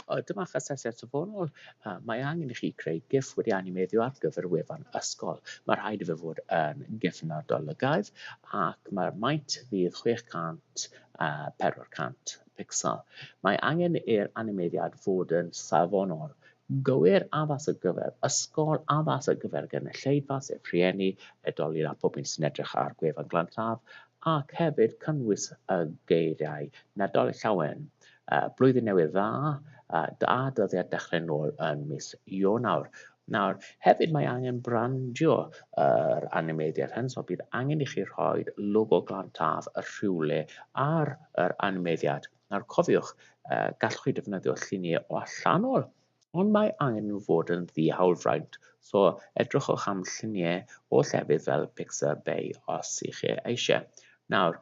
O, dyma eich asesiad safonol. Uh, mae angen i chi creu GIF wedi animeiddio ar gyfer wefan ysgol. Mae rhaid i fe fod yn GIF yn adolygaidd ac mae'r maint fydd 600 uh, 400 pixel. Mae angen i'r animeiddiad fod yn safonol Gywir, addas ar gyfer ysgol, addas ar gyfer gynulleidfa, sef rhieni, oedolyn a phob un sy'n edrych ar gwefan Glan Taf, ac hefyd cynnwys y geiriau Nadolig Llawen, Blwyddyn Newydd Dda, a dyddiad dechrau nôl yn mis Ionawr. Nawr, hefyd mae angen brandio yr animeiddiad hyn, so bydd angen i chi rhoi logo Glan Taf y rhywle ar yr animeiddiad. Nawr cofiwch, gallwch chi defnyddio lluniau o allanol, ond mae angen nhw fod yn ddi-hawlfraint, so edrychwch am lluniau o llefydd fel Pixar Bay os ych chi eisiau. Nawr,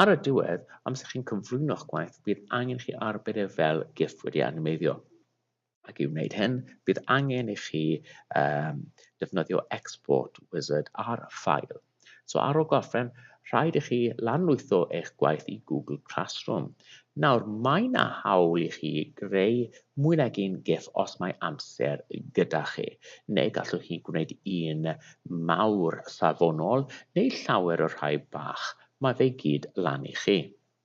ar y diwedd, amser chi'n cyflwyno'ch gwaith, bydd angen chi arbed e fel giff wedi animeiddio. Ac i wneud hyn, bydd angen i chi um, defnyddio Export Wizard ar ffail. So ar ôl gorffen, rhaid i chi lanlwytho eich gwaith i Google Classroom. Nawr, mae yna hawl i chi greu mwy nag un GIF os mae amser gyda chi, neu gallwch chi gwneud un mawr safonol neu llawer o rhai bach. Mae fe gyd lan i chi.